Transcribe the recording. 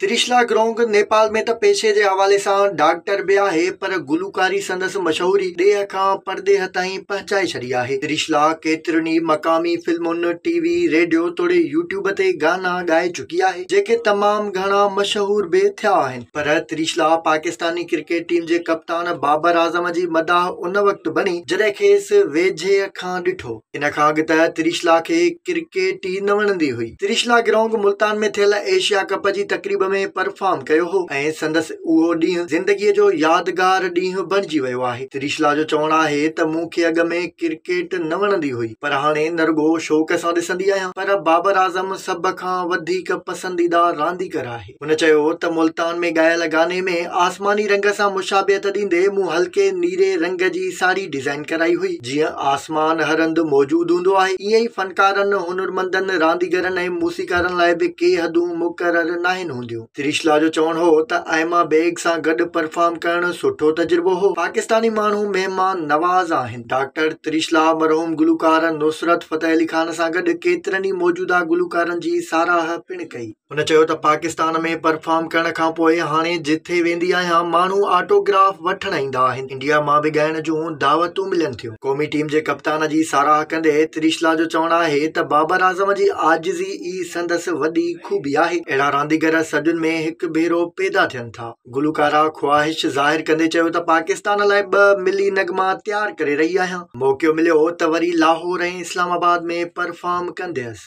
تريشلا گرونگ نيپال ۾ ته پيشي جي حوالي سان ڊاڪٽر به آهي پر گلوڪاري سندس مشهوري ڏيهه کان پرڏيهه تائين پهچائي ڇڏي آهي. تريشلا ڪيترين ئي مقامي فلمن، ٽي وي، ريڊيو توڙي يوٽيوب تي گانا ڳائي چڪي آهي جيڪي تمام گهڻا مشهور به ٿيا آهن پر تريشلا پاڪستاني ڪرڪيٽ ٽيم جي ڪپتان بابر اعظم جي مداح ان وقت بڻي جڏهن کيس ويجهي کان ڏٺو ان کان اڳ ته تريشلا کي ڪرڪيٽ ئي نه وڻندي هئي. تريشلا گرونگ ملتان ۾ ٿيل ايشيا ڪپ جي تقريب ۾ پرفارم ڪيو هو ۽ سندس اهو ڏينهن زندگي جو يادگار ڏينهن بڻجي ويو آهي. تريشلا جو چوڻ آهي ته مون کي اڳ ۾ ڪرڪيٽ نه وڻندي هئي پر هاڻي نه رڳو شوق سان ڏسندي آهيان پر بابر اعظم سڀ کان وڌيڪ پسنديده رانديگر آهي. هن چيو ته ملتان ۾ ڳايل گاني ۾ آسماني رنگ سان مشابهت ڏيندي مون هلڪي نيري رنگ جي ساڙهي ڊزائين ڪرائي هئي جيئن آسمان هر هنڌ موجود هوندو آهي ائين ئي فنڪارن هنرمندن رانديگرن ۽ موسيقارن لاء به ڪي حدون مقرر ناهن هونديون تريشلا جو چوڻ هو ته آئما بيگ سان گڏ پرفارم ڪرڻ سٺو تجربو هو پاڪستاني ماڻهو مهمان نواز آهن ڊاڪٽر تريشلا مرحوم گلوڪار نصرت فتح علي خان سان گڏ ڪيترن ئي موجوده گلوڪارن جي ساراهه پڻ ڪئي. هن چيو ته پاڪستان ۾ پرفارم ڪرڻ کانپوء هاڻي جتي ويندي آهيان ماڻهو آٽوگراف وٺڻ ايندا آهن انڊيا مان به ڳائڻ جون دعوتون ملن ٿيون قومي ٽيم جي ڪپتان جي ساراهه ڪندي تريشلا جو چوڻ آهي ته بابر اعظم جي عاجزي ئي سندس وڏي خوبي آهي اهڙا رانديگر صدين ۾ هڪ ڀيرو پيدا ٿين ٿا. گلوڪاره خواهش ظاهر ڪندي چيو ته پاڪستان لاء ٻه ملي نغما تيار ڪري رهي آهيان موقعو مليو هو ته وري لاهور ۽ اسلام آباد ۾ پرفارم ڪنديس.